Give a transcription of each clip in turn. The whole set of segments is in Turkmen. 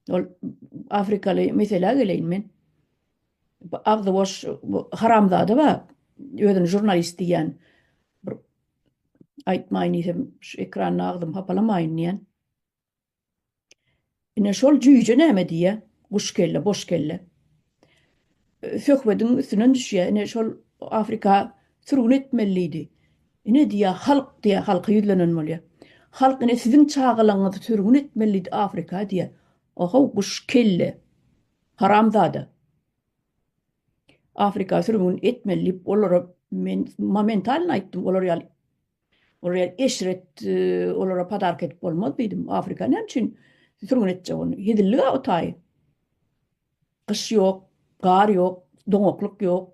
Ol afrikaly meselä geleýin men. Agzy boş haramzada bar. Özüni jurnalist diýýän. Bir aýtmaýyn diýsem, şu ekranda agzym hapalamaýyn diýýän. Ine şol jüýje näme diýýä? Guş kelle, boş kelle. söhbediň üstünden düşýär. Ine şol Afrika sürgün etmelidi. Ine diýýär halk diýýär, halka ýüzlenen bolýar. Halk ine siziň çagalaňyzy sürgün etmelidi Afrika diýýär. Ohow guş kelle. Haramzada. Afrika sürgün etmeli diýip olara men momentalno aýtdym olar ýaly Olara eşret olara padarka edip bolmaz diýdim. Afrika näme üçin sürgün etjek ony? Hezillik-a o taýy. Gyş ýok, gar ýok, doňaklyk ýok.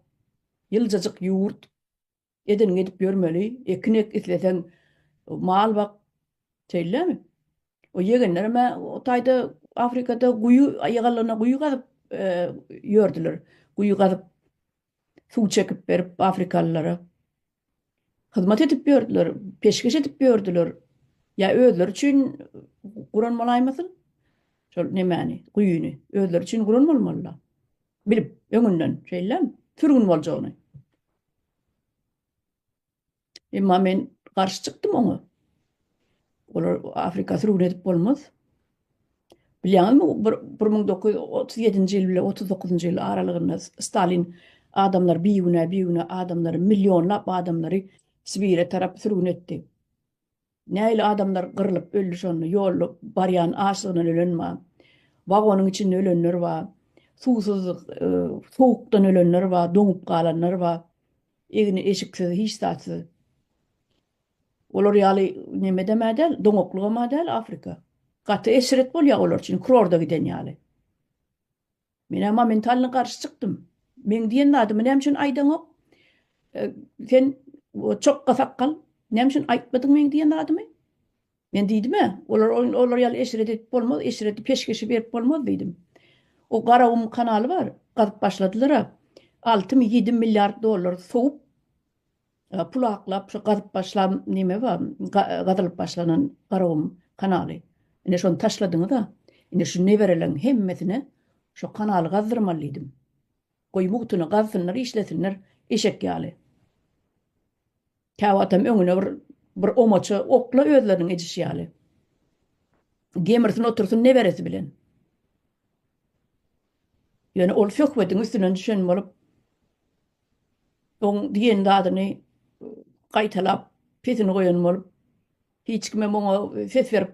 Ýyljajyk ýurt. Edeniňi edip ýörmeli. Ekin ek, isleseň mal bak. Şeýlemi? O ýegenlerim-ä o taýda Afrikada guýy ýaganlygyna guýy gazyp ýördüler. Guýy gazyp, suw çekip berip afrikalylara. hyzmat edip ýördüler, peşgeş edip ýördüler. Ýa özleri üçin guran bolaýmasyn? Şol nemäni, guýyny özleri üçin guran bolmalylar. Bilip, öňünden şeýlem sürgün boljagyny. Emma men garşy çykdym oňa. Olar Afrika sürgün edip bolmaz. Bilýäňizmi, bir bir müň dokuz ýüz otuz ýedinji ýyl bilen otuz dokuzynjy ýyl aralygynda Stalin adamlary bigünä, bigünä adamlary, millionlap adamlary Sibire tarap sürgün etdi. Nähili adamlar gyrlyp öldi şonda, ýolda barýan açlygyndan ölen bar, wagonyň içinde ölenler bar, suwsuzlyk, sowukdan ölenler bar, doňup galanlar bar, egni-eşiksiz, hiç zatsyz. Olar ýaly nemedem-ä däl, doňaklygam-a däl Afrika. Gaty eşret bolýar olar üçin, kurorda giden ýaly. Men-ä momentalno garşy çykdym. Meň diýen zadymy näme üçin aýdaňok? Sen çokga sakgal, näme üçin aýtmadyň meň diýen zadymy? Men diýdim-ä, olar olar ýaly eşret edip bolmaz, eşreti peşgeşi berip bolmaz diýdim. O Garagum kanaly bar, gazyp başladylar-a. Altymy ýedimi milliard dollar sowup, Pul aklap şu gazyp başlam neme ba gazylyp başlanan garagum kanaly ine şony taşladyňyza ine şu nebereleň hemmesine şu kanaly gazdyrmaly diýdim goý mugtyny gazsynlar işlesinler eşek ýaly käwatam öňüne bir bir omaça okla özleriniň edişi ýaly gemirsin otursyn neberesi bilen ýöne ol söhbediň üstünden düşen bolup Oň diýen zadyny gaýtalap, pesini goýan bolup, hiç kimem oňa ses berip